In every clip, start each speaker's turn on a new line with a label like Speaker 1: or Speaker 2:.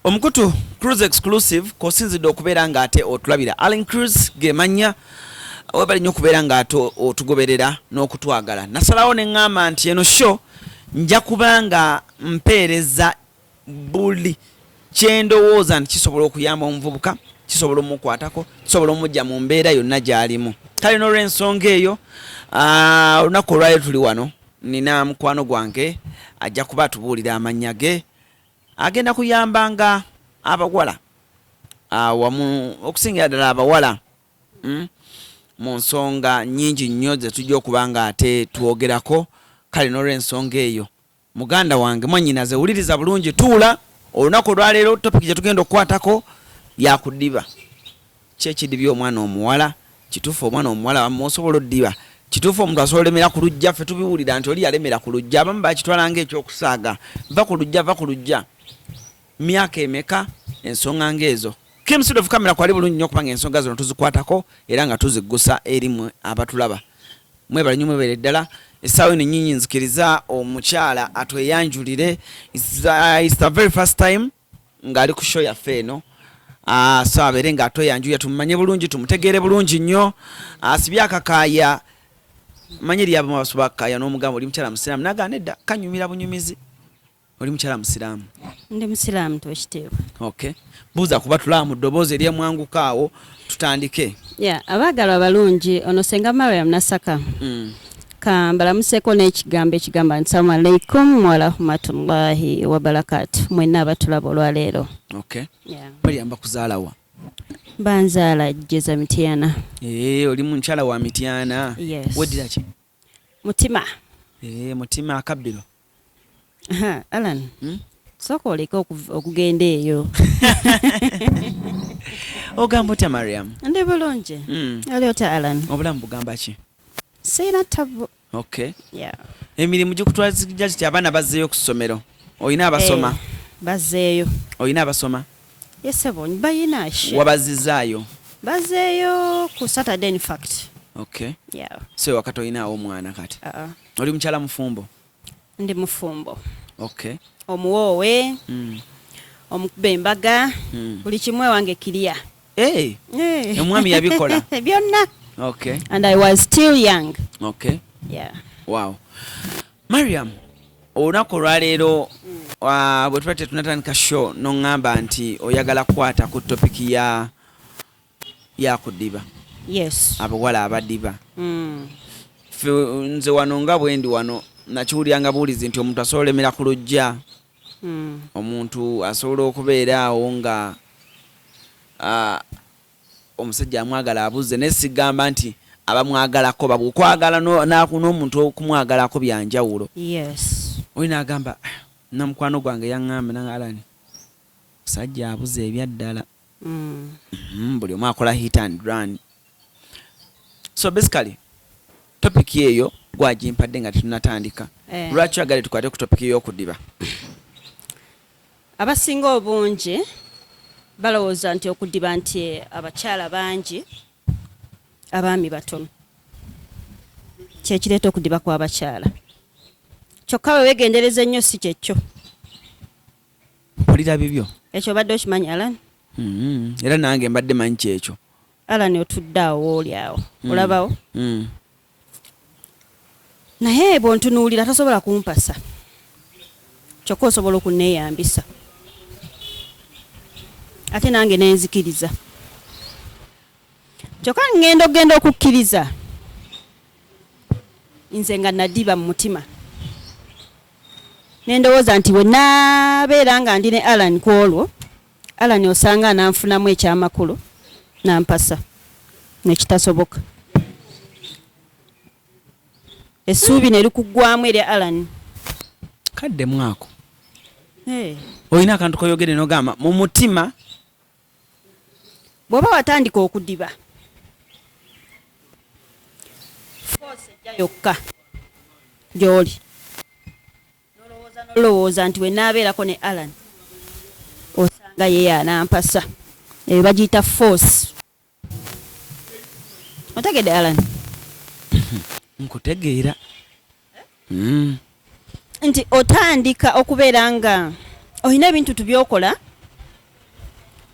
Speaker 1: omukutu cruz exclusive kosinzidde okubeera nga ate otulabira allen cruz gemanya webali nnyo okubeera nga ate otugoberera n'okutwagala nasalawo ne ŋŋamba nti eno sho nja kuba nga mpeereza buli kyendowooza nti kisobola okuyamba omuvubuka kisobola omukwatako kisobola omujja mu mbeera yonna gyalimu kale nolwensonga eyo ah, olunaku olwaliro tuli wano nina mukwano gwange ajja kuba atubuulira amannya ge agenda kuyambanga abawala awamu ah, okusingira ddala abawala hmm, mu nsonga nyingi nnyo zetujja okuba nga ate twogerako kale nolwensonga eyo muganda wange mwanyinaze wuliriza bulungi tuula olunaku olwaleero topic gyetugenda okukwatako yakudiba Kye kidibya omwana omuwala. Kitufu omwana omuwala wamma osobola odiba. Kitufu omuntu asobola olemera ku lujja ffe tubiwulira nti oli yalemera ku lujja abamu bakitwala nga ekyokusaaga vva ku lujja vva ku lujja myaka emeka ensonga nga ezo. Kim side of camera kwali bulungi nyo kubanga ensonga zino tuzikwatako era nga tuziggusa eri mwe abatulaba. Mwebale nyo mwebere ddala. Esaawa eno nyinyi nzikiriza omukyala atweyanjulire. It's, uh, it's the very first time. ng'ali ku sho yaffe eno ah, so abeere nga atweyanjuya tumumanye bulungi tumutegeere bulungi nnyo asibye ah, akakaaya manyi lyabo mabasuba akakaaya n'omugamba oli mukyala musiraamu naga nedda kanyumira bunyumizi oli mukyala musiraamu ndi musiraamu
Speaker 2: twekiteebwa okay
Speaker 1: buuza kuba tulaba mu ddoboozi eryemwanguka awo tutandike yeah, abaagalwa
Speaker 2: abalungi ono senga mariam nasaka mm. kambalamuseko n'ekigambo ekigamba nti salamu alaikum warahmatullahi wabarakatu mwenna abatulaba olwaleero okay. yeah.
Speaker 1: baliyamba kuzaalawa banzaala
Speaker 2: jeza mityana hey, eh, oli mukyala
Speaker 1: wa mityana yes. wediraki mutima
Speaker 2: ee eh,
Speaker 1: mutima akabbiro
Speaker 2: alan hmm? sooka oleke okugenda eyo
Speaker 1: ogamba otya mariam ndi bulungi
Speaker 2: hmm. ali otya alan obulamu bugamba ki
Speaker 1: sirina
Speaker 2: tabu okay emirimu
Speaker 1: gikutwazija kiti abaana bazzeeyo ku ssomero olina abasoma eh, bazzeeyo
Speaker 2: olina abasoma
Speaker 1: Ye ssebo
Speaker 2: bayina she. Wabazizaayo?
Speaker 1: Bazeeyo
Speaker 2: ku Saturday in fact. Okay. Yeah.
Speaker 1: So wakati
Speaker 2: oyinaawo
Speaker 1: omwana kati? Uh -uh. Oli mukyala mufumbo? Ndi
Speaker 2: mufumbo. Okay.
Speaker 1: Omuwoowe.
Speaker 2: Mm. Omukuba embaga. Mm. Buli kimu ewange kiriya. Hey. Hey.
Speaker 1: Omwami yabikola. Byonna.
Speaker 2: Okay. And
Speaker 1: I was still
Speaker 2: young. Okay. Yeah. Wow.
Speaker 1: mariam olunaku olwaleero mm. bwe tuba tetunatandika show noŋŋamba nti oyagala kukwata ku topiki ya yakudiba yes
Speaker 2: abawala abadiba
Speaker 1: mm. fe nze wano nga bwendi wano nakiwuliranga buwulizi nti omuntu asobola olemera ku lujja mm. omuntu asobola okubeera awo nga uh, omusajja amwagala abuze naye sigamba nti abamwagalako babu okwagala n'omuntu okumwagalako byanjawulo
Speaker 2: oli nagamba
Speaker 1: ah, namukwano gwange yaŋŋambe nanga alani musajja abuze ebyaddala mm. mm, buli omu akola hit and run so basically topic eyo gwagimpadde nga tetunatandika eh. lwaki oyagale tukwate ku topic eyokudiba
Speaker 2: Abasinga obungi balowooza nti okudiba nti abakyala bangi abaami batono kyekireeta okudiba kw'abakyala kyokka bwe wegendereza ennyo si kyekyo mpulira
Speaker 1: bibyo ekyo obadde okimanyi
Speaker 2: alan mm-hmm. era
Speaker 1: nange mbadde manyi kyekyo alan otudde
Speaker 2: awo wooli awo mm. olabawo mm. naye bwontunuulira tasobola kumpasa kyokka osobola okunneeyambisa ate nange nenzikiriza kyokka ngenda okugenda okukkiriza nze nga nadiba mu mutima nendowooza nti wenabeera nga ndi ne alan ku olwo Allan osanga ananfunamu ekyamakulu nampasa nekitasoboka essuubi nerikuggwamu eri Allan kadde
Speaker 1: mwako hey. olina akantu koyogere nogamba mu mutima
Speaker 2: bwoba watandika okudiba foosi ejja yokka gyoli nolowooza nolowooza nti wenaabeerako ne Allan osanga ye yanampasa eyo bagiyita force otegedde Allan nkutegeera mm. nti otandika okubeera nga olina ebintu tubyokola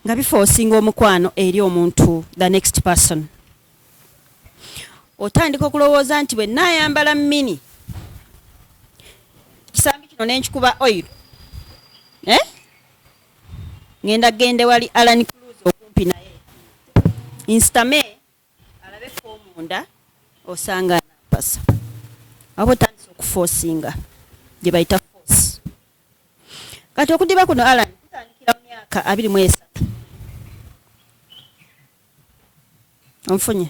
Speaker 2: nga bifoosinga omukwano eri omuntu the next person otandika okulowooza nti bwe naayambala mini kisambi kino ne nkikuba oil eh? ngenda gende wali alan cruz okumpi naye instame alabe komunda osanga nampasa aba otandisa okufosinga gye bayita force kati okudiba kuno alan kutandikira mu myaka abiri mu esatu onfunye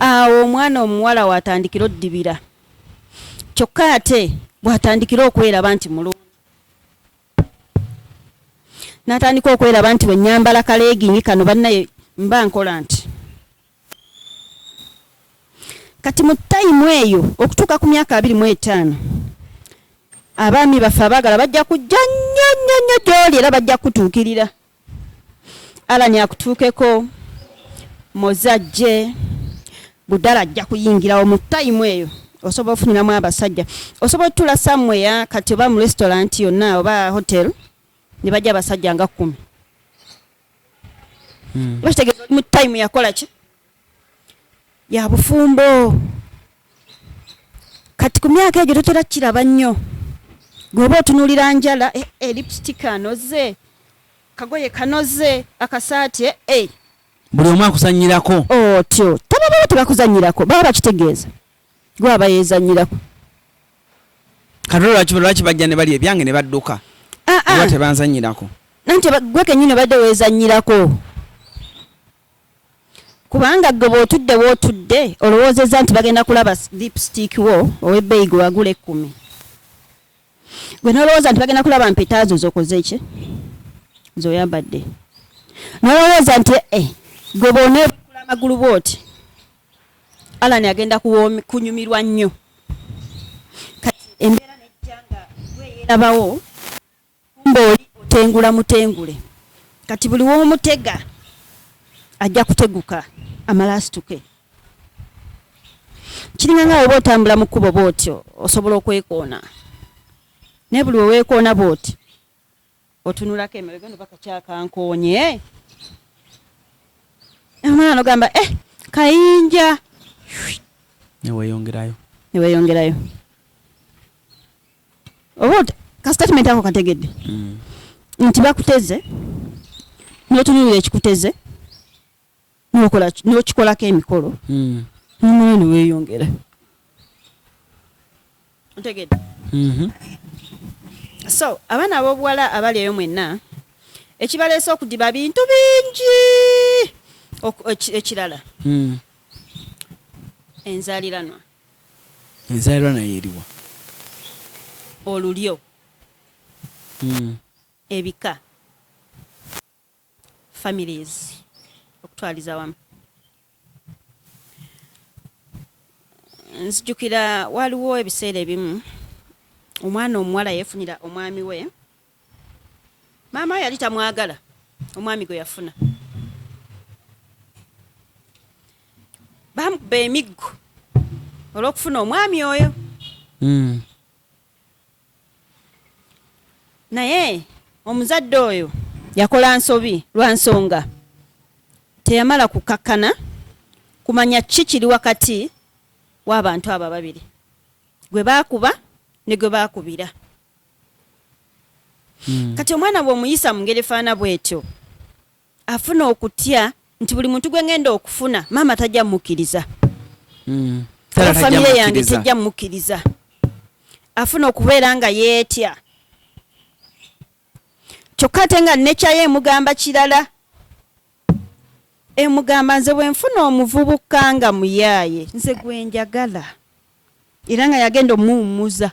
Speaker 2: awo omwana omuwala watandikira oddibira kyokka ate bwatandikira okweraba nti mulungi natandika okweraba nti bwenyambala kaleegingi kano bannaye mba nkola nti kati mu tayimu eyo okutuuka ku myaka abiri mu etaano abaami baffe abaagala bajja kujja nnyo nnyo nnyo gyoli era bajja kutuukirira Alani akutuukeko moze ajje budala ajja kuyingirawo mu tayimu eyo osobola ofuniramu abasajja osobola otula samweya kati oba mu restaurant yonna oba hotel ne bajja abasajja nga kkumi hmm. bakitegeeza oli mu tayimu yakola ki ya bufumbo kati ku myaka egyo totera kukiraba nnyo gweoba otunulira njala eh, eh, lipstick anoze kagoye kanoze akasaati eh, eh. buli
Speaker 1: omu akusanyirako otyo oh, tabababa
Speaker 2: tebakuzanyirako baba bakitegeeza gwe aba yezanyirako
Speaker 1: katolwaki lwaki bajja ne bali ebyange ne badduka ah, ah. oba tebanzanyirako nanti gwe
Speaker 2: kenyini obadde wezanyirako Kubanga gwe bwotudde wotudde olowoozezza nti bagenda kulaba lipstick wo owebbeeyi gwe wagula ekkumi. Gwe nolowooza nti bagenda kulaba mpeta zo zokoze ki zoyambadde. Nolowooza nti eh gwe bwonebukula amagulu bwoti Allan agenda kunyumirwa nnyo. Kati embeera nejja nga gwe eyerabawo. Kumbe oli otengula mutengule kati buli womutega ajja kuteguka amala asituke kiringa nga woba otambula mu kkubo bwotyo osobola okwekoona naye buli weweekoona bwoti otunulako emabega no bakakyakankoonye omwana nogamba eh kayinja neweyongerayo neweyongerayo oba ka statement ako kategedde mm. nti bakuteze notunulira ekikuteze nokikolako emikolo mm. nomwoyo neweyongera ntegedde mm-hmm. so abaana abobuwala abali eyo mwenna ekibaleese okudiba bintu bingi ekirala mm. enzaliranwa
Speaker 1: Enzaalirwa nayo eriwa?
Speaker 2: Olulyo, ebika, families, okutwaliza awamu. Nzijukira waaliwo ebiseera ebimu omwana omuwala yeefunira omwami we. maama yali tamwagala omwami gwe yafuna bamukuba emiggo olwokufuna omwami oyo hmm. naye omuzadde oyo yakola nsobi lwa nsonga teyamala kukakkana kumanya ki kiri wakati w'abantu abo ababiri gwe baakuba ne gwe baakubira Hmm. kati omwana bwomuyisa mungeri efaana bwetyo afuna okutya nti buli muntu gwengenda okufuna maama tajja mukiriza hmm. famire yange tejja mukiriza afuna okubeera nga yeetya kyokka ate nga nekyayo emugamba kirala emugamba nze bwenfuna omuvubuka nga muyaaye nze gwenjagala era nga yagenda omuwummuza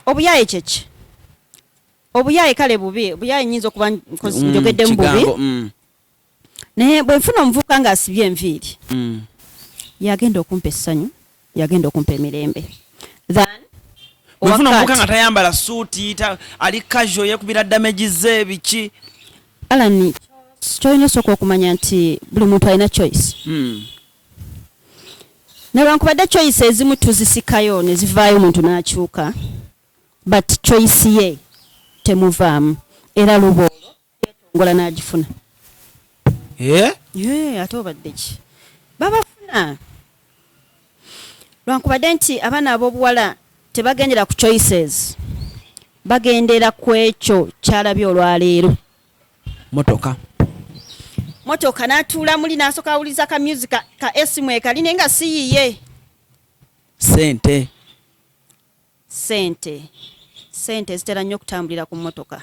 Speaker 2: obuyaye kyeki obuyaye kale bubi obuyaye nyinza okuba nkozi mm, njogedde mu bubi mm. naye bwe nfuna omuvubuka nga asibye enviiri mm. yagenda okumpa essanyu yagenda okumpa emirembe than
Speaker 1: wefuna omuvubuka nga tayambala suuti ali kajo yekubira damagize biki alani
Speaker 2: kyolina osooka okumanya nti buli muntu alina choice mm. newankubadde choice ezimu tuzisikayo ne zivaayo omuntu n'akyuka but choice ye temuvaamu era luba olwo yetongola n'agifuna eh? eh, ate obadde ki babafuna lwankubadde nti abaana ab'obuwala tebagendera ku choices bagendera ku ekyo kyalabye olwaleero motoka motoka natuula muli nasoka awuliza ka music ka esimu ekali naye nga siyiye sente sente sente zitera nnyo okutambulira ku motoka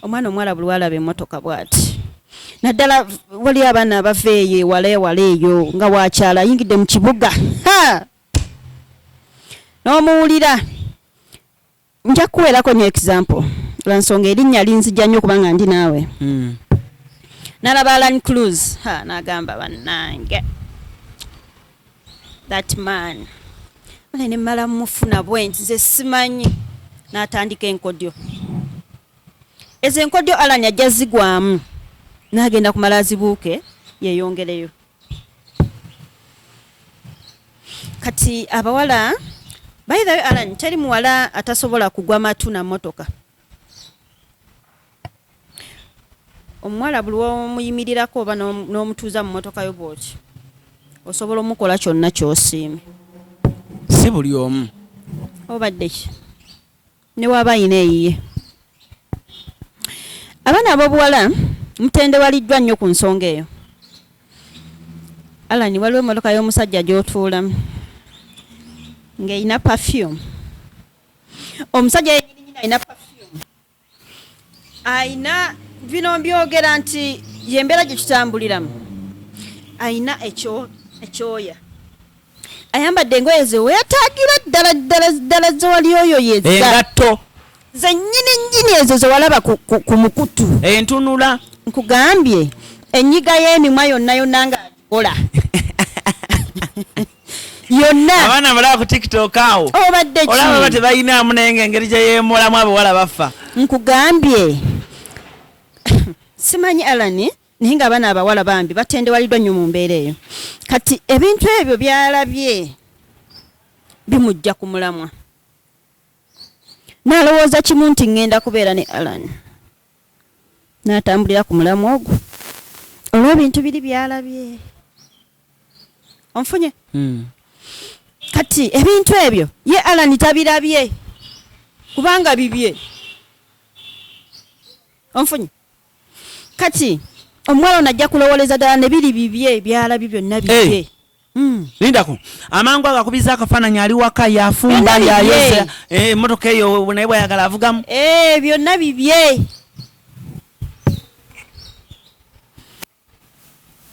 Speaker 2: omwana omuwala buli walaba emotoka bwati naddala waliyo abaana abava eyo ewala ewala eyo nga wakyala ayingidde mu kibuga n'omuwulira Nja kukuweerako nyo example lwa nsonga erinnya linzija nnyo kubanga ndi naawe. Mm. Nalaba Alan Cruz ha nagamba bannange that man ale ne mmala mufuna bwenti ze simanyi n'atandika enkodyo ezo enkodyo Alan ajja zigwamu n'agenda kumala azibuuke yeeyongereyo. kati abawala by the way alan teri muwala atasobola kugwa matu na motoka omuwala buli womuyimirirako oba n'omutuuza mu motoka yo bwoti osobola omukola kyonna kyosiime
Speaker 1: si buli omu obadde
Speaker 2: ki ne waba ayina eyiye abaana abobuwala mutendewaliddwa nnyo ku nsonga eyo alani waliwo emotoka y'omusajja gyotuulamu ngaerina perfume omusajja yenyininyina alina perfume ayina bino mbyogera nti yembeera gyetutambuliramu ayina ekyoya ayambadde engoye zeweyatagira ddala ddala ddala zewali oyo yezaengatto
Speaker 1: zenyini
Speaker 2: nyini ezo zewalaba ku mukutu entunula
Speaker 1: nkugambye
Speaker 2: enyiga y'emimwa yonna yonna nga ola yonna abaana mulaba ku
Speaker 1: tiktok awo obadde oh, olaba ba
Speaker 2: tebayinaamu naye
Speaker 1: nga engeri gye yeemulamu abawala bafa nkugambye
Speaker 2: simanyi alani naye nga abaana abawala bambi batendewaliddwa nnyo mu mbeera eyo kati ebintu ebyo byalabye bimujja ku mulamwa nalowooza kimu nti ŋŋenda kubeera ne alan natambulira ku mulamwa ogwo olw'ebintu biri byalabye onfunye hmm. kati ebintu ebyo ye alan tabirabye kubanga bibye onfunye kati omuwala ono ajja kulowoleza ddala ne biri bibye byalabye byonna bibye eh. hmm. lindako
Speaker 1: amangu ago akubiza akafaananyi ali waka yafumba yayoza eh, emotoka eyo naye bwayagala avugamu eh, byonna bibye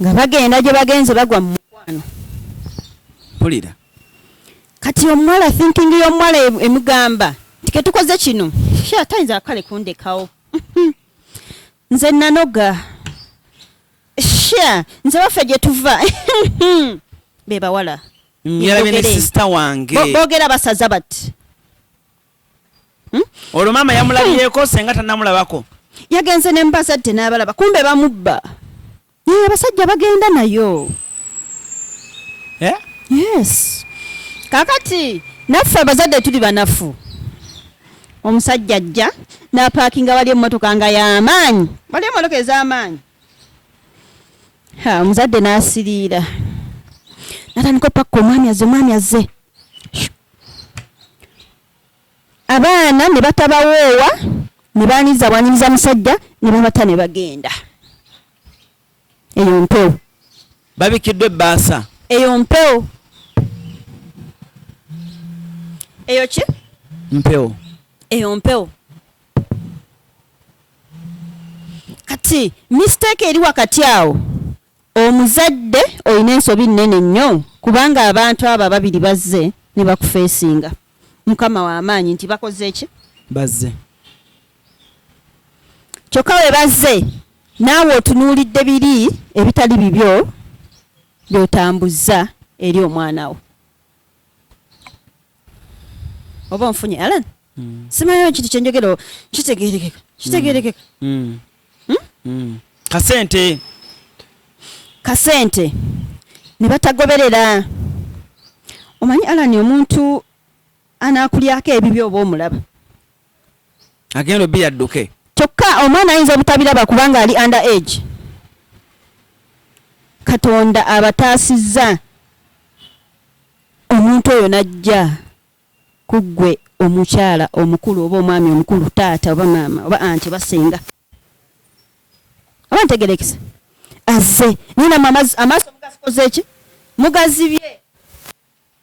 Speaker 2: nga bagenda gye bagenze bagwa mu mukwano
Speaker 1: mpulira
Speaker 2: kati omuwala thinking y'omuwala e-, emugamba nti ketukoze kino sha tayinza kale kundekawo nze nanoga sha nze waffe gye tuva be bawala
Speaker 1: bogera basaza
Speaker 2: bati hmm?
Speaker 1: olwo maama yamulabyeko senga tanamulabako yagenze ne
Speaker 2: mubazadde n'abalaba kumbe bamubba naye abasajja bagenda nayo eh? yes kakati naffe abazadde tuli banafu omusajja ajja napaakinga wali emmotoka nga yamaanyi wali emmotoka ez'amaanyi omuzadde n'asiriira natandika opakka omwami azze omwami azze abaana ne batabawoowa ne baaniriza bwanyiriza musajja ne babata ne bagenda eyo mpewo babikiddwa
Speaker 1: ebbaasa eyo mpewo
Speaker 2: eyo ki mpewo
Speaker 1: eyo mpewo
Speaker 2: kati mistake eri wakati awo omuzadde olina ensobi nnene nnyo kubanga abantu abo ababiri bazze ne bakufeesinga mukama wamaanyi nti bakoze ki bazze kyokka we bazze naawe otunuulidde biri ebitali bibyo byotambuzza eri omwana wo oba onfunye alan mm. simayo ekintu kyenjogero kitegerekeka kitegerekeka mm. mm. hmm? kasente kasente ne batagoberera omanyi alani omuntu
Speaker 1: anakulyako
Speaker 2: ebibi oba omulaba
Speaker 1: agenda obi
Speaker 2: yadduke kyokka omwana ayinza obutabiraba kubanga ali under age katonda abataasizza omuntu oyo n'ajja ku ggwe omukyala omukulu oba omwami omukulu, taata oba maama oba anti oba ssenga. Oba ntegerekese? Azze, naye namwe amaz, amaaso mugazikoze ki? Mugazibye.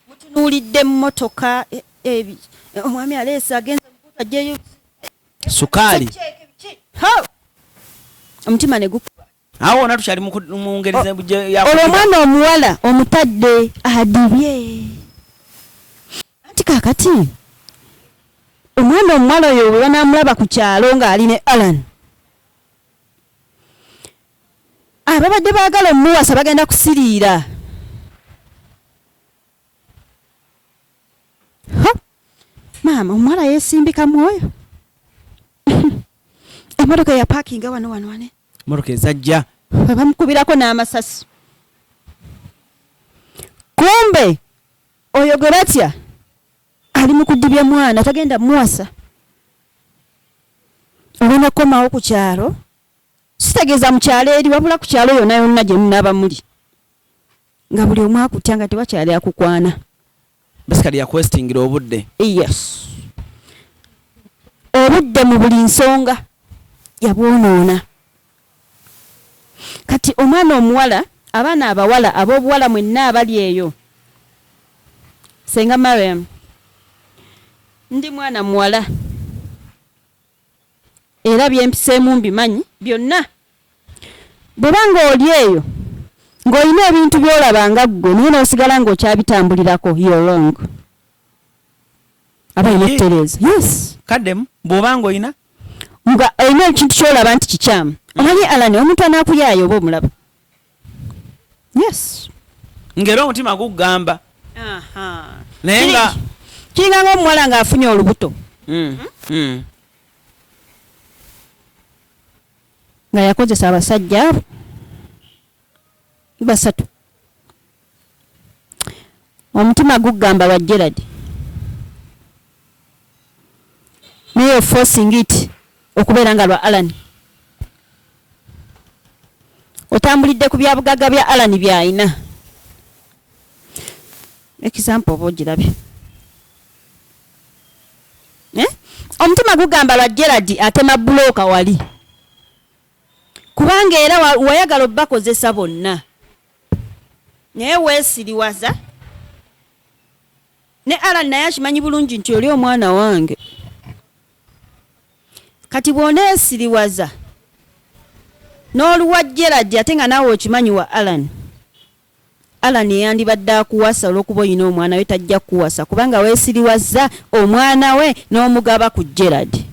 Speaker 2: Mutunuulidde mmotoka, e, ebi, e, omwami aleese agenze mukuutu ajjeyo. Sukaali. Omutima ne gukuba. awo wona tukyali mu
Speaker 1: ngeri olwo omwana
Speaker 2: omuwala omutadde adibye anti kakati omwana omuwala oyo bwe banamulaba ku kyalo ng'ali ne alan ababadde baagala omuwasa bagenda kusiriira maama omuwala yesimbika mwoyo emotoka eyapakinga wano wano wane motoka ezajja
Speaker 1: webamukubirako
Speaker 2: n'amasasi kumbe oyo gwe batya ali mu kudibya mwana tagenda muwasa olina kukomawo ku kyalo sitegeeza mu kyalo eri wabula ku kyalo yona yonna gye munaaba muli nga buli omu akutya nga tewakyali akukwana basically
Speaker 1: yakwestingira obudde yes
Speaker 2: obudde mu buli nsonga yabwonoona kati omwana omuwala abaana abawala ab'obuwala mwenna abali eyo senga mariam ndi mwana muwala era bye mpiseemu mbimanyi byonna. Bw'oba ng'oli eyo, ng'olina ebintu by'olaba nga ggwe naye n'osigala ng'okyabitambulirako, you're wrong. Aba alina okutereeza. Yes. Kaddemu, bw'oba
Speaker 1: ng'olina. Nga olina
Speaker 2: ekintu ky'olaba nti kikyamu. Omanyi Allan, omuntu anaakuyaaye oba omulaba. yes ngera omutima
Speaker 1: gugamba naye nga kiringa nga omuwala
Speaker 2: nga afunye olubuto mm, mm. nga yakozesa abasajja basatu Omutima guggamba wa Gerald. Naye you're forcing it okubeera nga lwa Alan. Otambulidde ku byabugagga bya Alan by'alina. Example oba ogirabye. Eh? Omutima gugamba lwa Gerald atema bulooka wali. Kubanga era wayagala obakozesa bonna. Naye wesiriwaza ne Alan naye akimanyi bulungi nti oli omwana wange kati bwonesiriwaza n'oluwa Gerald ate nga naawe okimanyi wa Alan Alan eyandibadde akuwasa olwokuba olina omwana we tajja kukuwasa kubanga wesiriwazza omwana we n'omugaba ku Gerald.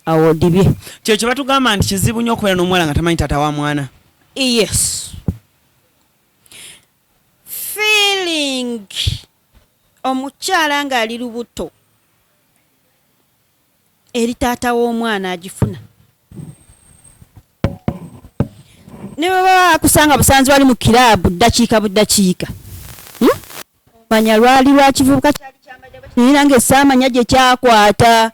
Speaker 2: awo odibye kyo kyebatugamba
Speaker 1: nti kizibu nyo okubeera n'omuwala nga tamanyi taata wa mwana yes
Speaker 2: feeling omukyala ng'ali lubuto eri taata w'omwana agifuna ne bwe baba bakusanga busanzi wali mu kiraabu ddakiika buddakiika hmm? manya lwali lwakivubuka kyali kyambadde bwe kinira ng'esaamanya gye kyakwata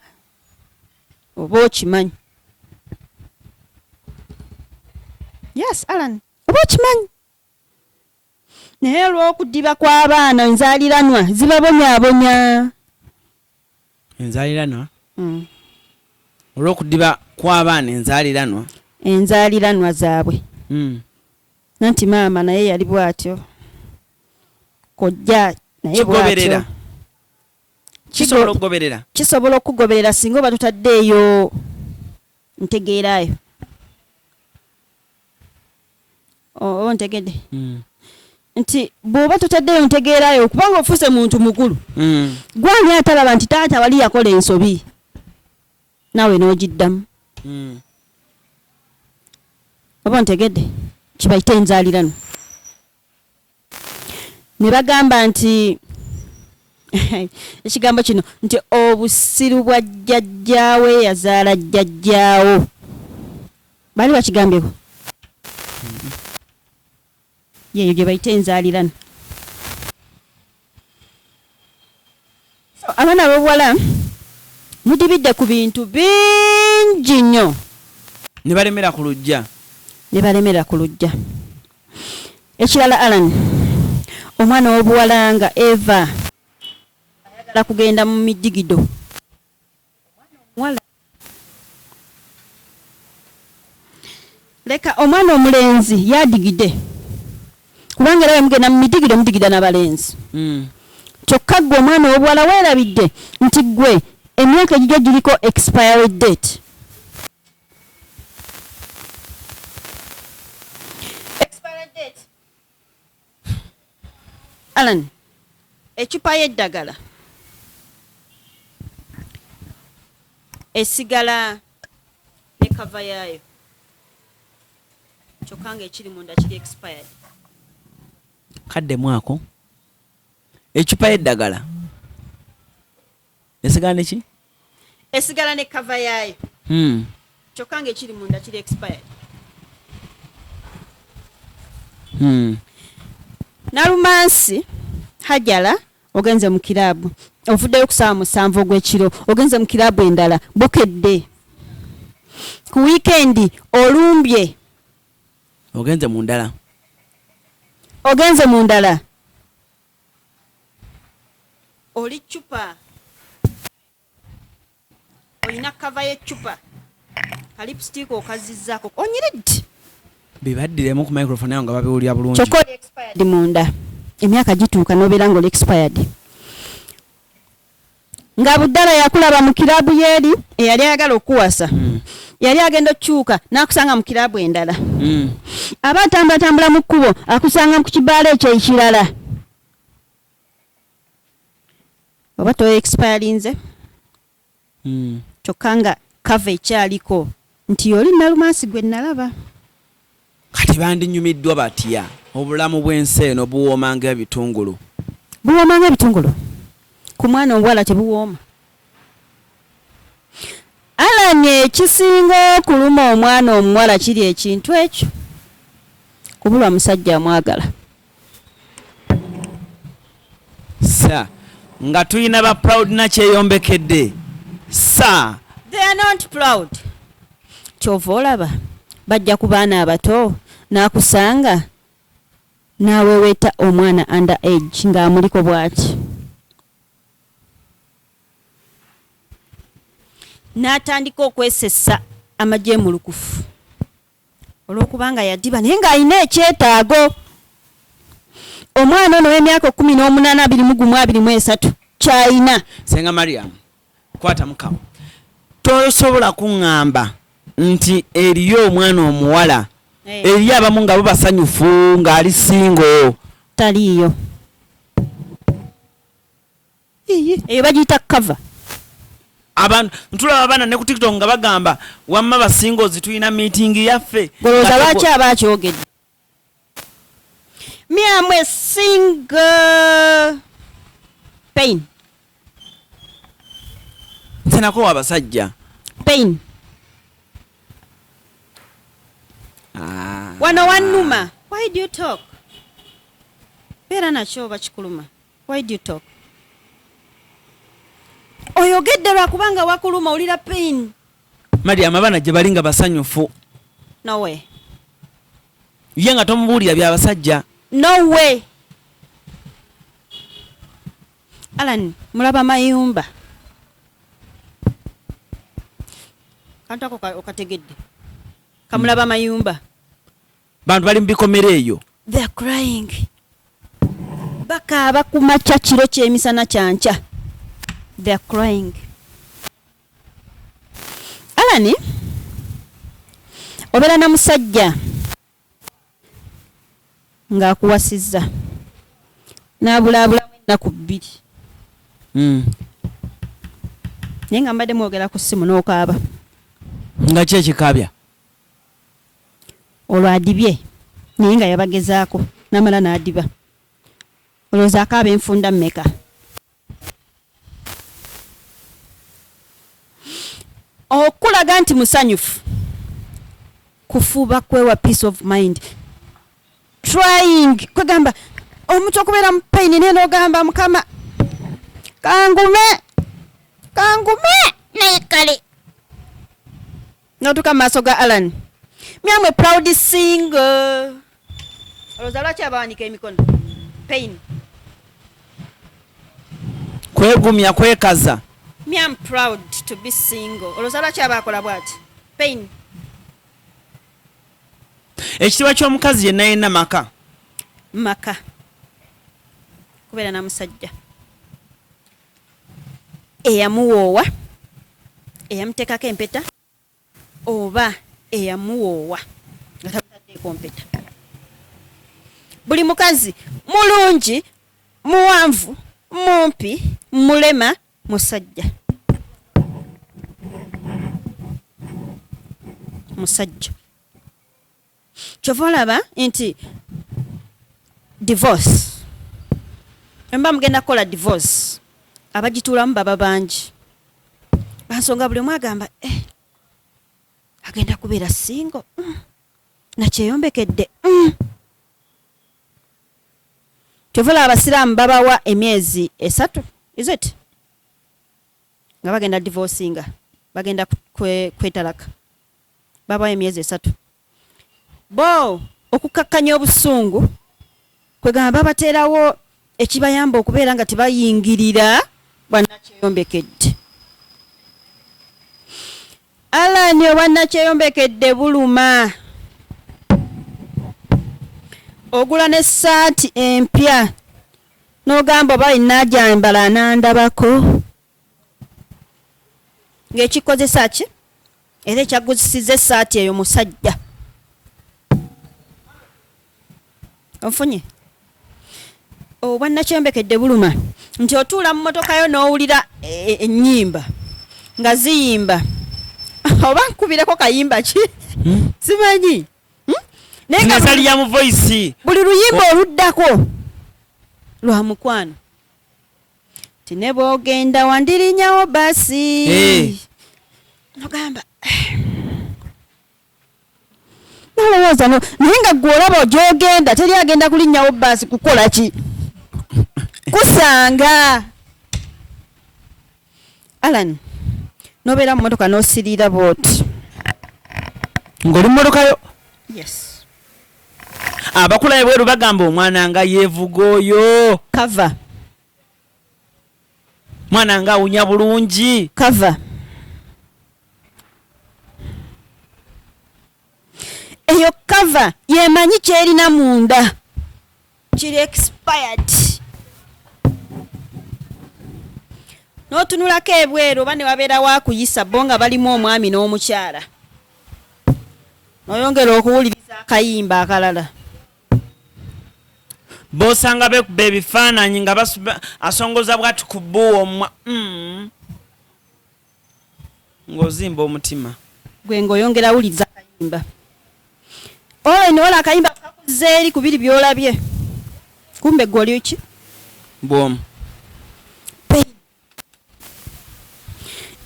Speaker 2: oba okimanyi yes alan oba okimanyi naye olw'okudiba kw'abaana enzaaliranwa zibabonyabonya
Speaker 1: enzaaliranwa hmm. olw'okudiba kw'abaana enzaaliranwa enzaaliranwa
Speaker 2: zaabwe hmm. nanti maama naye yali bw'atyo kojja naye bw'atyo
Speaker 1: kisobola okugoberera kisobola okugoberera
Speaker 2: singa oba tutaddeeyo ntegeeraayo oba ntegedde hmm. nti bw'oba tutaddeeyo ntegeeraayo kubanga ofuuse muntu mukulu hmm. gwani atalaba nti taata wali yakola ensobi naawe n'ogiddamu hmm. oba ntegedde kibayita enzaalirano ne bagamba nti ekigambo kino nti obusiru bwa jjajjaawe yazaala jjajjaawo baali bakigambyeko yeeyo gye bayita enzaalirana abaana abobuwala mudibidde ku bintu bingi nnyo nebalemera
Speaker 1: ku lujja nebalemera ku lujja ekirala alan
Speaker 2: omwana wobuwala nga eva ayagala kugenda mu midigido leka omwana omulenzi yadigide kubanga era wemugenda mumidigide mudigida nabalenzi mm. kyokka gwe omwana owobuwala werabidde nti gwe emyaka egigyo giriko expiry date Alan ecupa y'eddagala esigala ne kava yaayo kyokka nga ekiri munda kiri expired kaddemu
Speaker 1: ako ecupa y'eddagala esigala neki esigala
Speaker 2: ne kava yaayo hmm. kyokka nga ekiri munda kiri expired hmm. nalumansi hajala ogenze mu kiraabu ovuddeyo kusaawa musanvu ogw'ekiro ogenze mu kiraabu endala bukedde ku wiikendi olumbye
Speaker 1: ogenze mu ndala ogenze mu ndala
Speaker 2: oli ccupa olina kava y'eccupa kalipusitiika okazizzaako onyiridde bibaddiremu
Speaker 1: ku microphone ayo nga babiwulira bulungi kyokka oli expired
Speaker 2: munda emyaka gituuka n'obeera nga oli expired nga buddala yakulaba mu kiraabu yeeri eyali ayagala okukuwasa mm. yali agenda okukyuka n'akusanga mu kiraabu endala mm. aba atambulatambula mu kkubo akusanga ku kibaala ekyo ekirala oba toexpirinze mm. kyokka nga kava ekyaliko nti oli nalumansi gwe nalaba
Speaker 1: Kati bandinyumiddwa batya? Obulamu bw'ensi eno buwooma ng'ebitungulu. Buwooma ng'ebitungulu? Ku mwana omuwala tebuwooma? Allan, Ekisinga okuluma omwana omuwala kiri ekintu ekyo, kubulwa musajja amwagala. Sir. Nga tulina ba proud na kyeyombekedde. Sir.
Speaker 2: They are not proud. Kyova olaba bajja ku baana abato n'akusanga n'aweweeta omwana under age ng'amuliko bw'ati n'atandika okwesesa amajemulukufu olw'okubanga yadiba naye ng'alina ekyetaago omwana ono w'emyaka ekkumi n'omunaana abiri mu gumu abiri mu esatu ky'alina senga mariam
Speaker 1: kwata mukama tosobola kuŋŋamba nti eriyo omwana omuwala eh. eriyo abamu nga bubasanyufu ng'ali singo taliiyo
Speaker 2: eyo bagiyita cover
Speaker 1: abantu ntulaba abaana ne ku tiktok nga bagamba wamma basinga ozitulina meeting yaffe olowooza lwaki aba
Speaker 2: akyogedde me am a single pain
Speaker 1: nsenako wabasajja pain
Speaker 2: ah. wano wanuma why do you talk beera nakyo oba kikuluma Why do you talk? Oyogedde lwa kubanga wakuluma olira pain. Mariam abana
Speaker 1: gye bali nga basanyufu. No
Speaker 2: way.
Speaker 1: Ye nga tomubuulira bya basajja. No way.
Speaker 2: Alan mulaba mayumba. Kantu ako okategedde. Kamulaba mayumba. bantu
Speaker 1: bali mubikomera eyo they're crying
Speaker 2: bakaaba kumakya kiro kyemisana kyankya they're crying alani obeera na musajja ng'akuwasizza n'abulaabulamu ennaku bbiri hmm. naye nga mbadde mwogera ku ssimu n'okaaba nga
Speaker 1: ki ekikaabya
Speaker 2: Olwo adibye naye nga yabagezaako namala nadiba olowooza akaaba enfunda meka okulaga nti musanyufu kufuba kwewa peace of mind trying kwegamba omuntu okubeera mu pain naye nogamba mukama kangume kangume naye kale notuka maaso ga Alan myamwe proud single oloza lwaki abawanika emikono pain
Speaker 1: kwegumya kwekaza me am proud
Speaker 2: to be single oloza lwaki abakola bwati pain
Speaker 1: ekitiibwa ky'omukazi yenna yenna maka maka
Speaker 2: kubeera na musajja eyamuwoowa, eyamuteekako empeta oba eyamuwoowa nga tamutaddeeko mpeta. Buli mukazi mulungi, muwanvu, mumpi, mulema, musajja. Musajja. kyova olaba nti divorce emba mugenda kukola divorce abagituulamu baba bangi bansonga buli omu agamba eh, agenda kubeera singo mm. nakyeyombekedde mm. kyova olaba abasiraamu babawa emyezi esatu is it nga bagenda divorcinga bagenda kwetalaka kwe babawa emyezi esatu bo okukkakkanya obusungu kwegamba babateerawo ekibayamba okubeera nga tebayingirira bwanakyeyombekedde alani obwanakyeyombekedde buluma ogula ne saati empya nogamba oba inajambala anandabako ng'ekikozesa ki era ekyaguzisiza essaati eyo musajja ofunye obwannakyombekedde buluma nti otuula mu motoka yo n'owulira e, e, ennyimba nga ziyimba oba nkubireko kayimba ki hmm? simanyi hmm?
Speaker 1: nayezali ya mu voice buli luyimba
Speaker 2: oluddako lwa mukwano tine bwogenda wandirinyawo basi eh. nogamba nalowooza no naye nga gwe olaba ogyogenda teri agenda kulinnyawo baasi kukola ki kusanga alan nobeera mu motoka nosiriira booti
Speaker 1: ng'oli mu motokayo yes abakula ebweru bagamba omwana nga yevuga oyo kava mwana nga awunya bulungi kava
Speaker 2: eyo kava yemanyi kyerina munda kiri expired n'otunulako ebweru oba ne wabeera wakuyisa bo nga balimu omwami n'omukyala noyongera okuwuliriza akayimba akalala
Speaker 1: bosanga bekuba ebifaananyi nga asongoza bwati ku bbuwa omwa mm. Ng'ozimba omutima. Gwe ng'oyongera
Speaker 2: wuliriza kayimba. All in all akayimba kakuzza eri ku biri by'olabye. Kumbe gwe oli ki? Bwomu.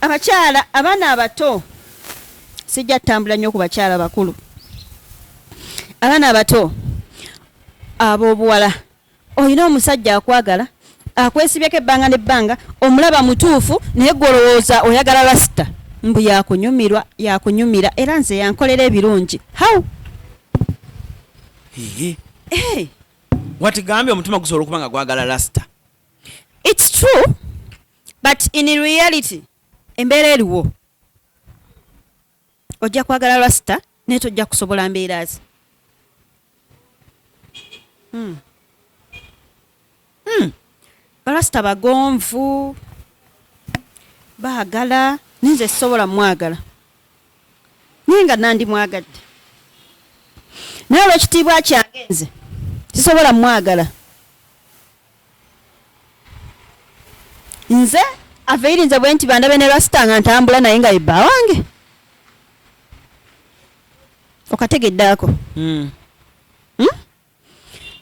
Speaker 2: abakyala abaana abato sijja tutambula nnyo ku bakyala bakulu abaana abato ab'obuwala Olina omusajja akwagala, akwesibyeko ebbanga n'ebbanga, omulaba mutuufu naye gwe olowooza oyagala lasita. Mbu yakunyumirwa, yakunyumira era nze yankolera ebirungi. How? Ehe.
Speaker 1: Hey. Watigambye omutima gusobola okuba nga gwagala lasita. It's
Speaker 2: true but in reality embeera eriwo. ojja kwagala rasita naye tojja kusobola mbeera ze hmm. hmm. barasita bagonvu baagala naye nze sisobola mwagala naye nga nandi mwagadde naye olwekitiibwa kyange nze sisobola mwagala nze aveirinze bwe nti bandabe ne rasita nga ntambula naye nga yebba wange okategedde ako hmm. hmm?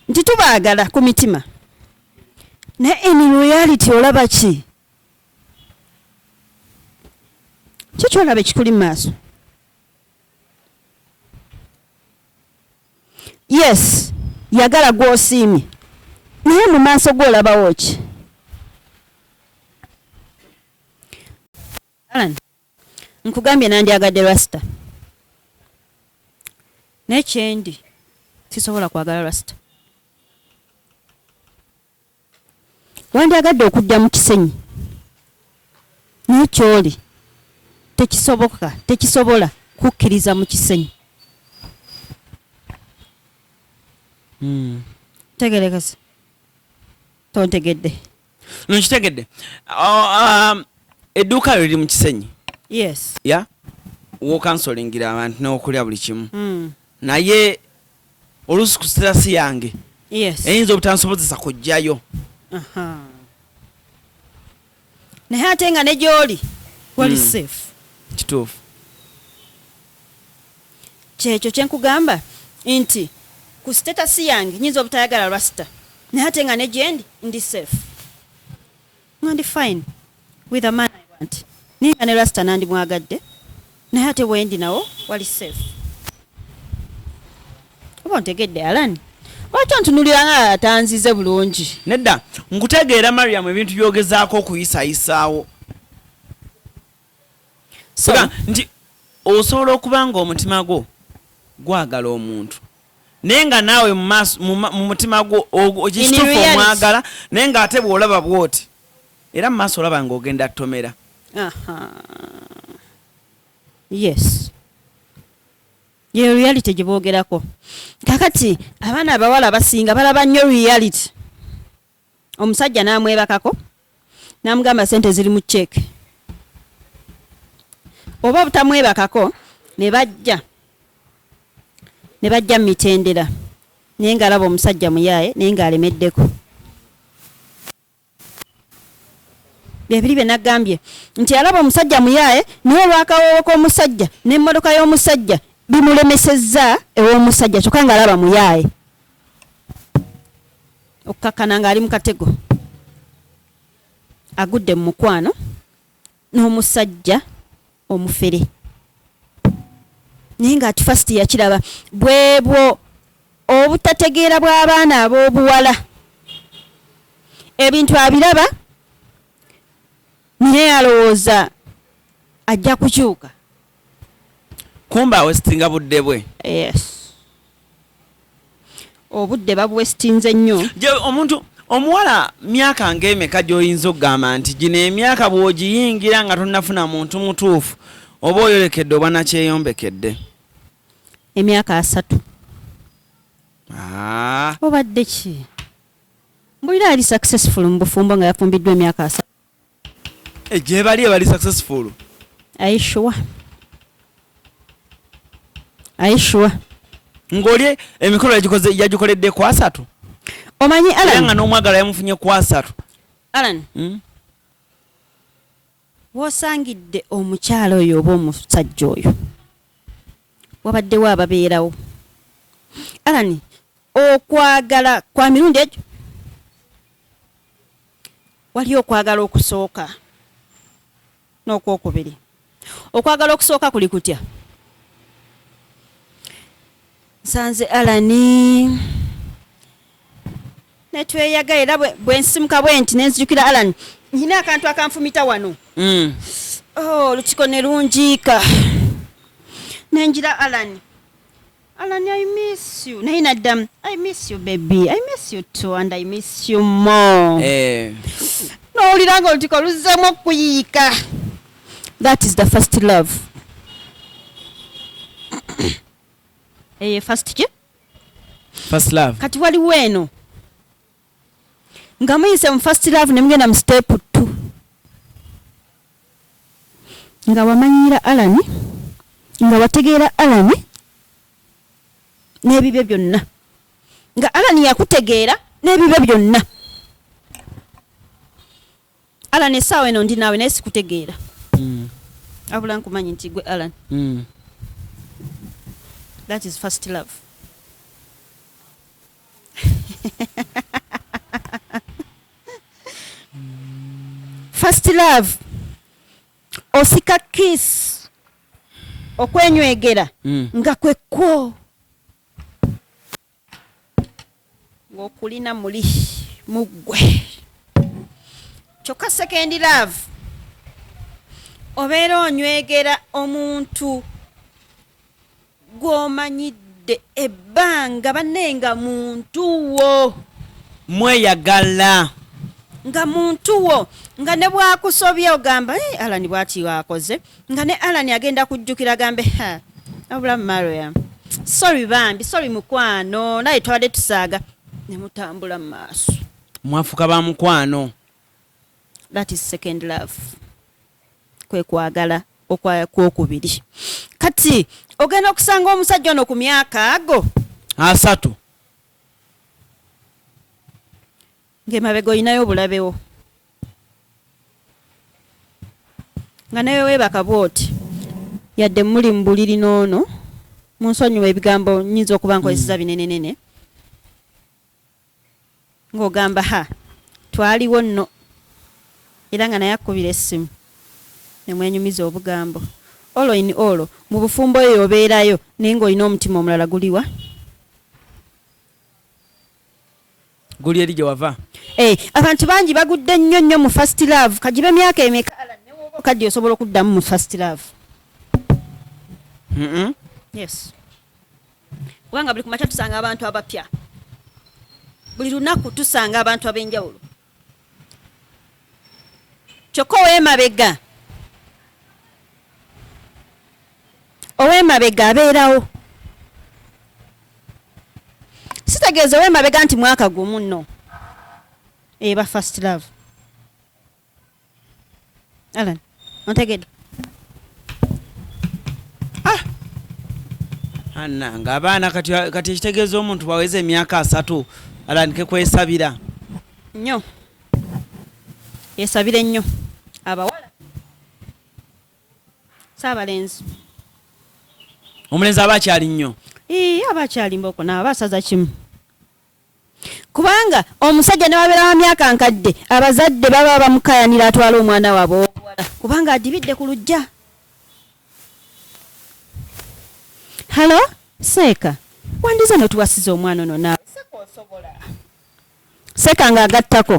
Speaker 2: nti tubaagala ku mitima naye in reality olaba ki kyekyolaba ekikuli mu maaso Yes yagala gwosiimye naye mu maaso go olabawo ki? Alan nkugambye nandyagadde Rasta naye kyendi sisobola kwagala Rasta. Wandyagadde okujja mu kisenyi naye kyoli tekisoboka tekisobola kukkiriza mu kisenyi hmm. tegerekese tontegedde no
Speaker 1: nkitegedde oh, um, edduuka lyo liri mu kisenyi yes ya wokansolingira abantu n'okulya buli kimu hmm. naye oluusi ku sirasi yange eyinza obutansobozesa kujjayo
Speaker 2: naye ate nga ne gyoli wali hmm. safe kituufu kyekyo kyenkugamba nti ku sitatasi yange nyinza obutayagala lwasita naye ate nga ne gyendi ndi safe Nga ndi fine with a man I want. Ninga ne Rasta nandi mwagadde. Naye ate wendi nawo wali safe. Oba ontegedde Alani. Lwaki ontunulira nga atanzize bulungi? Nedda,
Speaker 1: nkutegeera Mariam ebintu by'ogezaako okuyisayisaawo. so nti osobola okuba nga omutima gwo gwagala omuntu naye nga naawe mu mutima gwo kitufu omwagala naye nga ate bwolaba bwoti era mu maaso olaba nga ogenda tomera
Speaker 2: yes ye reality gye boogerako kakati abaana abawala abasinga balaba nnyo reality omusajja n'amwebakako n'amugamba sente ziri mu ceeke oba obutamwebakako ne bajja ne bajja mu mitendera naye ng'alaba omusajja muyaaye naye ng'alemeddeko byebiri bye nagambye nti alaba omusajja muyaaye naye olwakawoowo k'omusajja n'emmotoka y'omusajja bimulemesezza ew'omusajja kyokka ng'alaba muyaaye okukakkana ng'ali mu katego agudde mu mukwano n'omusajja omufere naye ng'ati fast yakiraba bwebwo obutategeera bw'abaana ab'obuwala ebintu abiraba naye alowooza ajja kukyuka
Speaker 1: Kumbe awesitinga budde bwe. Yes.
Speaker 2: Obudde babuwesitinze nnyo. Omuntu
Speaker 1: omuwala myaka ng'emeka gy'oyinza okugamba nti gino emyaka bw'ogiyingira nga tonnafuna muntu mutuufu oba oyolekedde oba nakyeyombekedde.
Speaker 2: Emyaka asatu. Ah. Obadde ki? Mbulira ali successful mu bufumbo nga yafumbiddwa emyaka asatu. Eh,
Speaker 1: gyebali ebali successful aishuwa aishuwa ng'oli emikolo yagikoledde ku asatu omanyi alan
Speaker 2: nga n'omwagala yamufunye ku
Speaker 1: asatu alan hmm?
Speaker 2: wosangidde omukyala oyo oba omusajja oyo wabaddewo ababeerawo alan okwagala kwa mirundi egyo Waliyo okwagala okusooka n'okwokubiri. Okwagala okusooka kuli kutya? Nsanze Alani netweyaga era bwensimuka bwe nti nenzijukira Alani nyina akantu akanfumita wano mm. oh, olutiko ne lunjiika nenjira Alani Alan I miss you naye naddamu I miss you baby I miss you too and I miss you more eh. nowulira nga olutiko luzzemu okuyiika that is the first love eye eh, first ki first
Speaker 1: love kati waliwo eno
Speaker 2: nga muyise mu first love nemugenda mu step two Nga wamanyiira Allan, nga wategeera Allan n'ebibye byonna, nga Allan yakutegeera n'ebibye byonna. Allan, essaawa eno ndi naawe naye sikutegeera. Mm. Abula nkumanyi nti gwe Allan. Mm. That is first love. first love osika kiss okwenywegera mm. nga kwekwo ng'okulina muli muggwe kyokka second love obeera onywegera omuntu gwomanyidde ebbanga banne nga muntu wo mweyagala nga muntu wo nga ne bwakusobye ogamba hey, eh, alani bwati wakoze nga ne alani agenda kujjukira gambe abula mariam sorry bambi sorry mukwano naye twabadde tusaaga ne mutambula mu maaso mwafuka ba
Speaker 1: mukwano
Speaker 2: that is second love kwe kwagala okwokubiri kati ogenda okusanga omusajja ono ku myaka ago asatu ngaemabega olinayo obulabewo nga nawe webaka bwoti yadde muli mu buliri noono munsonyiwa ebigambo nyinza okuba nkozeseza mm. binenenene mm. Ng'ogamba ha, twaliwo nno. Era nga naye akkubira essimu, ne mwenyumiza obugambo. Olwo in olwo, mu bufumbo eyo obeerayo, naye ng'olina omutima omulala. Guli wa?
Speaker 1: Guli eri gye wava. Ee, abantu
Speaker 2: bangi bagudde nnyo nnyo mu first love, ka gibe myaka emeka. Allan, ne w'oba okaddiye osobola okuddamu mu first love. Yes. kubanga buli kumakya tusanga abantu abapya buli lunaku tusanga abantu ab'enjawulo kyokka ow'emabega ow'emabega abeerawo sitegeeza ow'emabega nti mwaka gumu no eba eh, first love Alan, ontegedde?
Speaker 1: Ah! Anna, nga abaana kati kati ekitegeeza omuntu baweza emyaka asatu alandike kwesabira nnyo
Speaker 2: yesabire nnyo abawala saabalenzi
Speaker 1: omulenzi aba akyali nnyo aba akyali
Speaker 2: mboko naabasaza kimu Kubanga omusajja newabeera wa myaka nkadde abazadde baba bamukayanira atwala omwana waabwe owobuwala kubanga adibidde ku lujja. Halo seeka wandize notuwasiza omwana ono naawe seeka osobola. Seeka nga agattako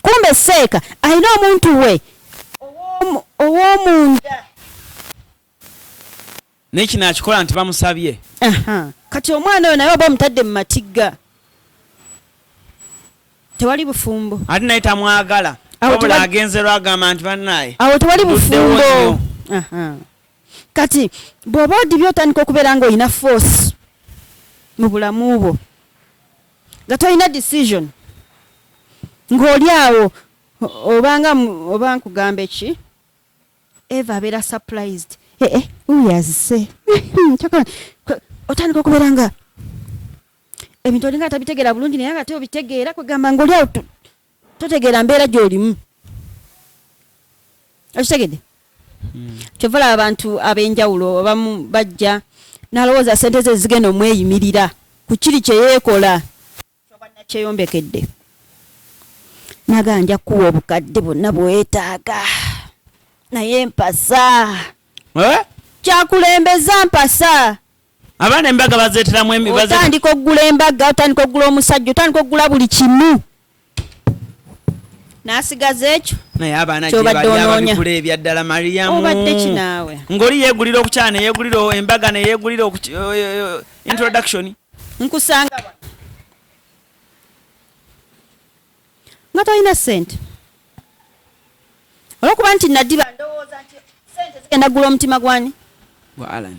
Speaker 2: kumbe seeka alina omuntu we ow'omunda.
Speaker 1: Naye kino akikola nti bamusabye. Aha. Kati
Speaker 2: omwana oyo naye oba omutadde mu matigga. Tewali bufumbo. Ate naye tamwagala.
Speaker 1: Wabula agenze lwagamba nti banaye. Awo tewali bufumbo.
Speaker 2: Aha. Kati bw'oba odibye otandika okubeera nga olina force mu bulamu bwo nga tolina decision ng'oli awo obanga oba nkugamba eki Eva abera surprised. Eh eh, uyu azise. Chakala, otandika okubera nga ebintu olinga atabitegera bulungi naye ate obitegeera kwegamba ngaoli awo totegeera mbeera gyolimu okitegedde hmm. kyova laba abantu ab'enjawulo abamu bajja nalowooza sente ze zigenda omweyimirira ku kiri kyeyeekola kyeyombekede naga nja kuwa obukadde bwonna bwetaaga naye mpasa eh? kyakulembeza mpasa abaana embaga
Speaker 1: bazeteramu otandika okugula embaga
Speaker 2: otandika okugula omusajja otandika okugula buli kimu nasigaza ekyo naye abaana
Speaker 1: gyebaliababigula ebyaddala mariyamu obadde kinaawe
Speaker 2: ngoli yegulira okukyana
Speaker 1: neyegulira embaga neyegulira introduction nkusanga
Speaker 2: wano nga tolina ssente olwokuba nti nadiba ndowooza nti sente zigenda gula omutima gwani gwa alan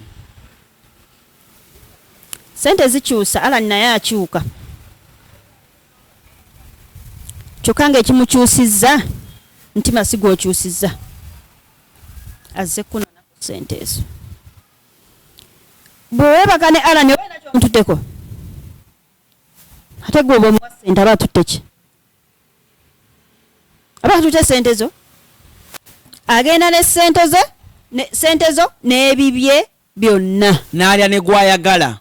Speaker 2: sente zikyusa alan naye akyuka kyokka nga ekimukyusizza ntima sigwokyusizza azze kunona sente ezo Bwe weebaka ne Allan oba olina ky'omututteko? Ate gwe oba omuwa ssente aba atutte ki? Aba atutte ssente zo. Agenda ne ssente ze ne ssente zo n'ebibye byonna. N'alya ne
Speaker 1: gw'ayagala.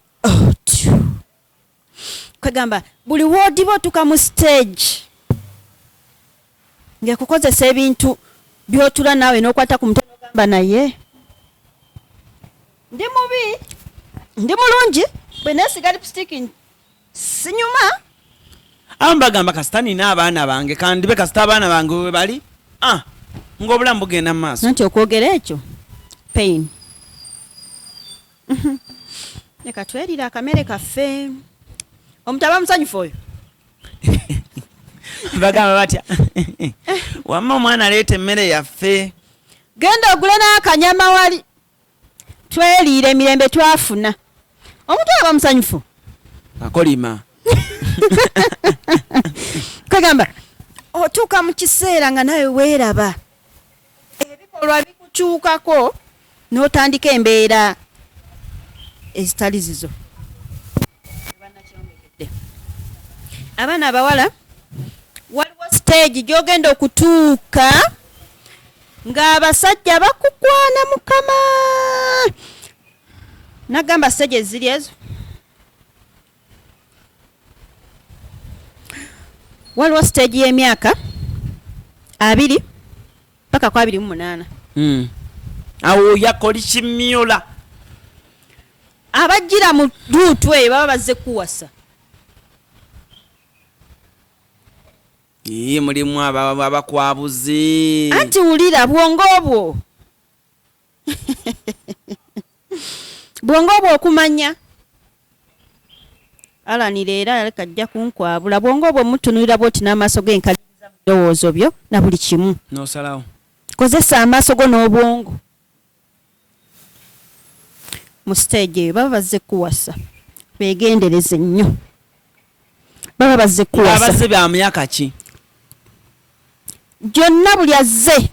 Speaker 2: kwegamba buli wodiba otuka mu stage ngekukozesa ebintu byotula nawe nokwata ku mutwe nogamba naye ndi mubi ndi mulungi bwenesiga lipstick sinyuma
Speaker 1: awo mbagamba kasita nina abaana bange kandibe kasita abaana bange webali ah, ngaobulamu bugenda mu maaso nanti okwogera ekyo
Speaker 2: pain leka twerire akamere kaffe omuntu aba musanyufu oyo
Speaker 1: bagamba batya wamma omwana aleeta emmere yaffe genda ogule
Speaker 2: n'akanyama wali tweriire emirembe twafuna omuntu aba musanyufu akolima kagamba otuuka mu kiseera nga nawe weeraba ebikolwa bikukyukako n'otandika embeera ezitali zizo. Abaana abawala waliwo siteegi gy'ogenda okutuuka ng'abasajja bakukwana mukama nagamba siteegi eziri ezo waliwo stage y'emyaka abiri paka ku abiri mu munaana
Speaker 1: hmm. awo yakoli kimyola
Speaker 2: abajjira mu duutu eyo baba bazze kuwasa
Speaker 1: iye mulimu abakwabuzi anti wulira
Speaker 2: bwongo obwo bwongo obwo okumanya alanira era aleka ajja kunkwabula bwongo obwo mutunulira bwoti n'amaaso ge nkaliriza mu birowoozo byo na buli kimu nosalawo
Speaker 1: kozesa amaaso
Speaker 2: go n'obwongo mu siteegi eyo baba bazze kuwasa begendereze nnyo baba bazze kuwasa ba myaka ki gyonna buli azze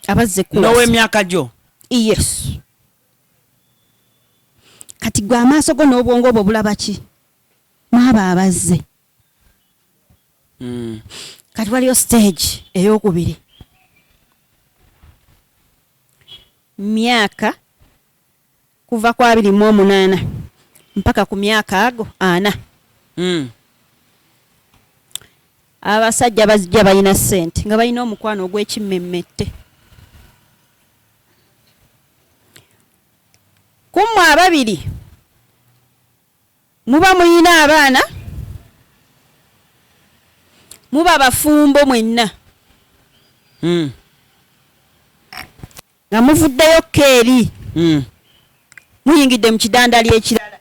Speaker 2: abazze kuwasa n'ow'emyaka gyo
Speaker 1: yes
Speaker 2: kati gwe amaaso go n'obwongo obwo bulaba ki maaba abazze hmm. kati waliyo stage ey'okubiri myaka kuva ku abiri mu omunaana mpaka ku myaka ago ana mm. abasajja bazijja balina sente nga balina omukwano ogwekimmemmette kummwe ababiri muba mulina abaana muba bafumbo mwenna mm. Nga muvuddeyo ko eri. Mm. Muyingidde mu kidandali ekirala.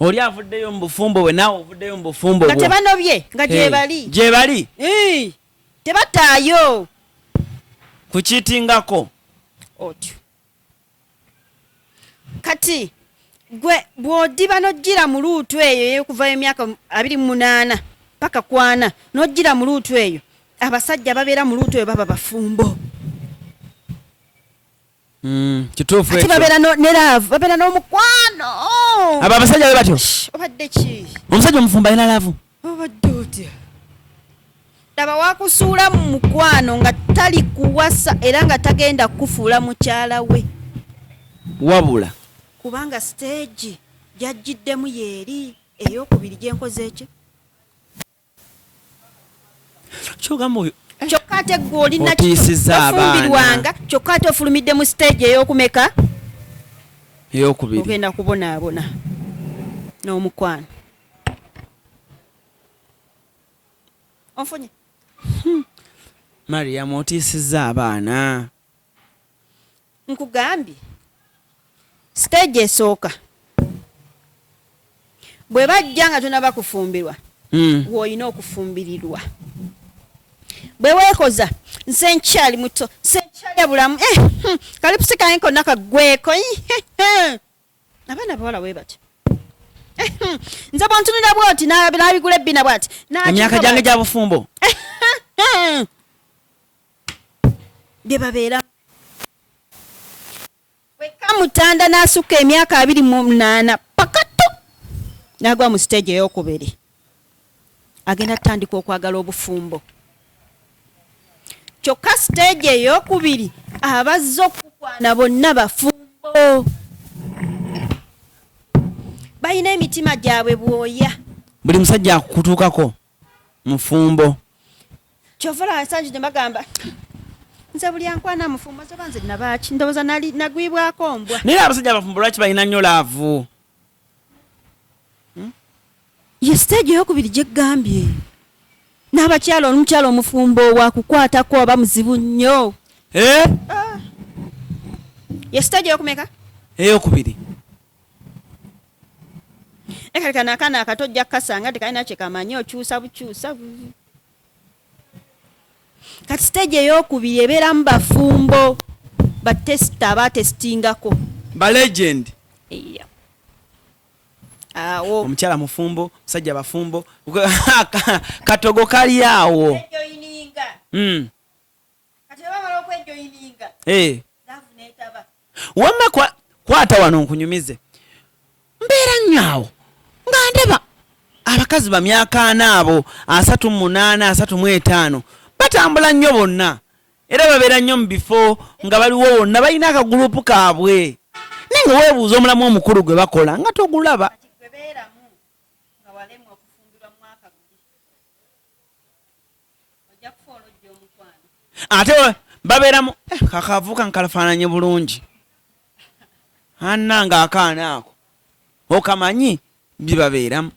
Speaker 1: Oli avuddeyo mu bufumbo bwe naawe ovuddeyo mu bufumbo bwo. Nga tebanobye nga
Speaker 2: gyebali. Hey. Gyebali. Hey.
Speaker 1: Tebataayo.
Speaker 2: Kukitingako.
Speaker 1: Otyo.
Speaker 2: kati gwe bw'odiba n'ojjira mu luutu eyo ey'okuva emyaka abiri mu munaana paka kwana n'ojjira mu luutu eyo abasajja ababeera mu luutu eyo baba bafumbo
Speaker 1: hmm, kituufu ekyo babeera ne laavu
Speaker 2: babeera n'omukwano abo abasajja
Speaker 1: be batyo obadde ki
Speaker 2: omusajja omufumbo alina
Speaker 1: laavu obadde otya
Speaker 2: laba wakusuula mu mukwano nga tali kuwasa era nga tagenda kukufuula mukyala we
Speaker 1: wabula kubanga
Speaker 2: siteegi gyajjiddemu yeeri eyokubiri gyenkoze ekyo
Speaker 1: kyogamba oyo eh. kyokka ate gwe
Speaker 2: olinaofumbirwanga
Speaker 1: kyokka ate
Speaker 2: ofulumidde mu siteegi eyokumeka
Speaker 1: eyokubiri ogenda
Speaker 2: kubonaabona n'omukwano onfunye hmm.
Speaker 1: mariam otiisizza abaana
Speaker 2: nkugambye siteegi esooka bwe bajja nga tonaba kufumbirwa hmm. woolina okufumbirirwa bwe weekoza nze nkyali muto nze nkyalya bulamu eh, hmm, kalipusi kange konna kaggweko abaana abawala bwe batyo nze bwantunira bwoti nabigula ebbina bwati emyaka gyange gya
Speaker 1: bufumbo
Speaker 2: bye babeera wekka mutanda n'asukka emyaka abiri mu munaana pakatu n'agwa mu siteegi ey'okubiri agenda tandika okwagala obufumbo kyokka siteegi eyokubiri abazze okukwana bonna bafumbo balina emitima gyabwe bwoya buli musajja
Speaker 1: akutuukako mufumbo
Speaker 2: kyovola ensangi gye bagamba nze buli ankwana mufumbo zoba nze nabaki ndowooza nagwibwako mbwa naye abasajja abafumbo lwaki
Speaker 1: balina nnyo laavu hmm?
Speaker 2: ye siteegi eyokubiri gyegambye n'abakyala omukyala omufumbo wakukwatako aba muzibu nnyo eh? ah.
Speaker 1: ye siteegi eyokumeka
Speaker 2: eyokubiri ekalekana akaana akato ojja kukasanga tekalina kyekamanyi okyusa bukyusa kati siteegi eyokubiri ebeeramu bafumbo batesita abatesitingako ba legend yeah. awo omukyala mufumbo
Speaker 1: musajja bafumbo katogo kali awo
Speaker 2: mm. eh. wamma
Speaker 1: kwata wano nkunyumize mbeera nyaawo nga ndaba abakazi bamyaka ana abo asatu munaana asatu mu etaano batambula nnyo bonna era babeera nnyo mu bifo nga baliwo wonna balina akagulupu kaabwe naye nga weebuuza omulamu omukulu gwe bakola nga togulaba ate babeeramu eh, kakavuka nkalafaananye bulungi anna nga akaana ako okamanyi byebabeeramu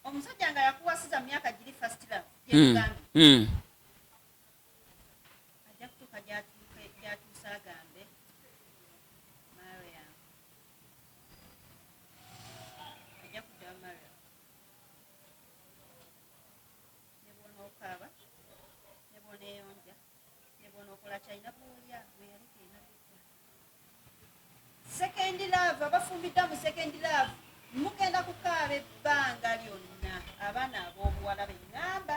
Speaker 2: omusajja nga yakuwasiza myaka giri fast love hmm. hmm. ajja kutuuka gyatuuse agambe mariam ajja kudda mariam nebwonokaaba nebwoneyonja nebwonokola kyalina bwolya weyali kirina kudda second love abafumbidda mu second love mugenda kukaaba ebbanga lyonna abaana ab'obuwala beŋŋamba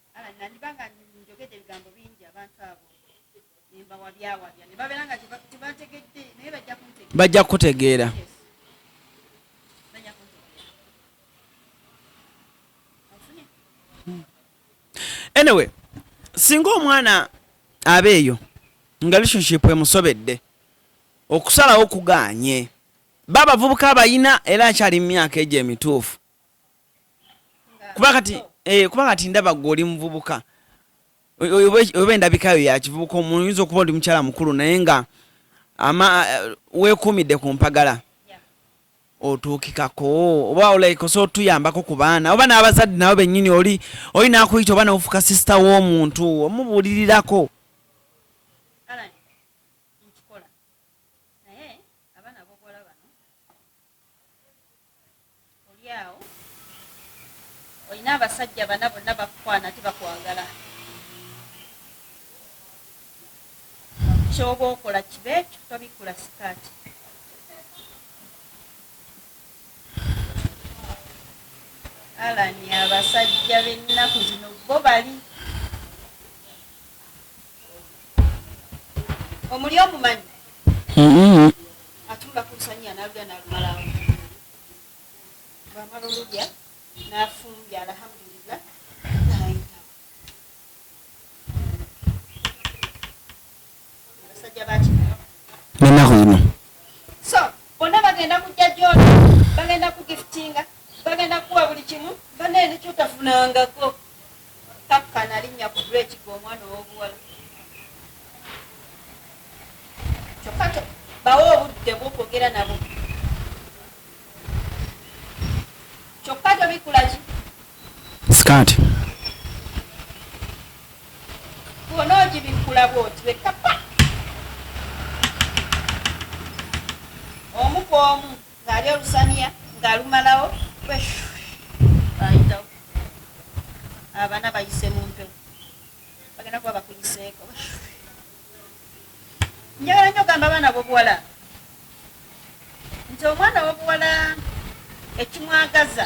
Speaker 2: Ah, nandiba nga njogedde ebigambo bingi abantu abo nembawabyawabya ne babeera nga tebategedde naye bajja kuntegeera bajja
Speaker 1: kutegeera anyway singa omwana aba eyo nga relationship emusobedde okusalawo kuganye ba bavubuka abayina era akyali mu myaka egyo emituufu kuba kati eh, kuba kati ndaba gwe oli muvubuka oba endabikayo yakivubuka omuntu yinza okuba oli mukyala mukulu naye nga ama eh, wekuumidde ku mpagala otuukikako oba olaikosa otuyambako ku baana oba n'abazadde nabo bennyini oli oli nakuyita oba nofuka sisita w'omuntu omubuulirirako
Speaker 2: Olyawo olina abasajja bana bonna bakukwana ate bakwagala. Kyoba okola kibe ekyo tobikula sikaati. Allan abasajja bennaku zino bo bali. omuli omumanyi mm-hmm. atunula ku lusanyi analulya nalumalawo bwamala olulya nafumbya alhamdulillah nayita abasajja baki nenaku ino
Speaker 1: so
Speaker 2: bonna bagenda kujja gyona bagenda kugiftinga bagenda kukuwa buli kimu banaye nekyotafunangako Takka nalinnya ku breeki gwe omwana ow'obuwala. Kyokka to, bawe obudde bwo kwogera nabo. Kyokka tobikula ki? Sikaati. Bw'ona ogibikkula bw'oti wekka pa! Omu ku omu. Ng'alya olusaniya ng'alumalawo bwe shhh ayitawo abana bayise mu mpewo bagenda kuba bakuyiseeko bwe shhh. Njagala nnyo ogamba abaana b'obuwala nti omwana w'obuwala ekimwagaza.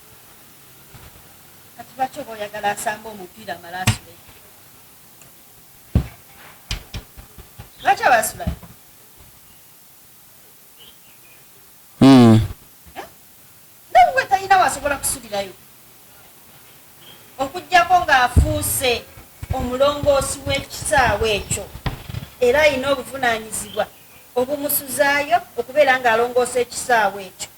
Speaker 2: Kati lwaki oba oyagala asambe omupiira amale asule? Lwaki aba asula? Hmm. Eh? Ndabwe talina wasobola kusulirayo okugyako ng'afuuse omulongoosi w'ekisaawe ekyo era alina obuvunaanyizibwa obumusuzaayo okubeera ng'alongoosa ekisaawe ekyo.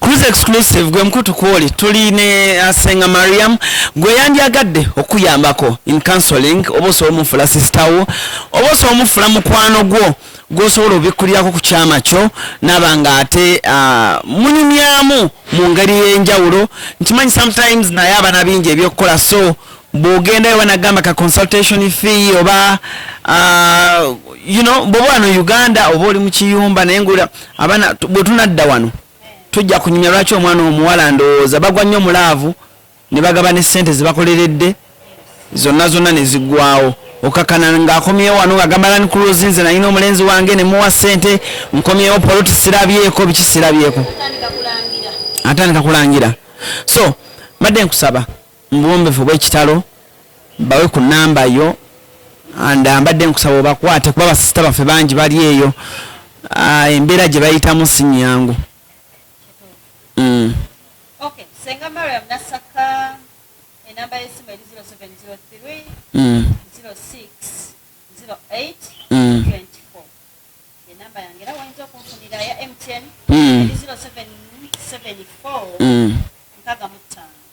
Speaker 1: Cruise exclusive gwe mkutu kwoli tuli ne asenga uh, Mariam gwe yandyagadde okuyambako in counseling oba osobola omufula sister wo oba osobola omufula mukwano gwo gwosobola obikkulirako ku kyama kyo naba nga ate uh, munyumyamu mu ngeri y'enjawulo nkimanyi sometimes naye abana bingi ebyokukola so bwogenda ewa nagamba ka consultation fee oba uh, you know bwoba wano uganda oba oli mukiyumba naye ngula abaana bwetunadda wano tujja kunyumya lwaki omwana omuwala ndowooza bagwa nnyo mulaavu ne bagaba ne sente zebakoleredde zonna zonna nezigwawo okakana ngaakomyewo wano ngagamba lani kuluzi nze nalina omulenzi wange nemuwa sente nkomyewo poloti sirabyeko biki sirabyeko atandika kulangira so mbadde nkusaba Mu buwombefu obwekitalo bawe ku number yo and uh, mbadde nkusaba obakwate kuba basista baffe bangi bali eyo uh, embeera gye bayitamu si nyangu mm.
Speaker 2: okay. senga mariam nasaka enamba yesimu eri 0703 mm. 06 08 mm. 24 enamba yange era wayinza okunfunira ya mtn mm. eri 0774 mm. nkaga mutaano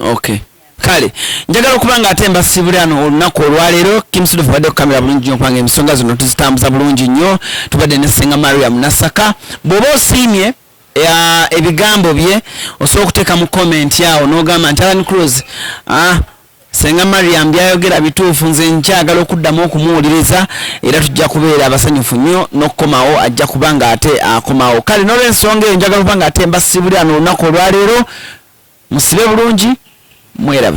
Speaker 2: okay kale
Speaker 1: njagala okuba nga ate mbasiibule ano olunaku olwaleero kimusudu fubadde okukamera bulungi nyo kubanga ensonga zino tuzitambuza bulungi nnyo tubadde ne senga mariam nasaka bw'oba osiimye ya ebigambo bye osobola okuteeka mu comment awo n'ogamba nti alan cruz ah, senga mariam byayogera bituufu nze nkyagala okuddamu okumuwuliriza era tujja kubeera abasanyufu nnyo n'okukomawo ajja kuba nga ate akomawo kale n'olwensonga eyo njagala okuba nga ate mbasiibulira n'olunaku olwaleero musibe bulungi mweraba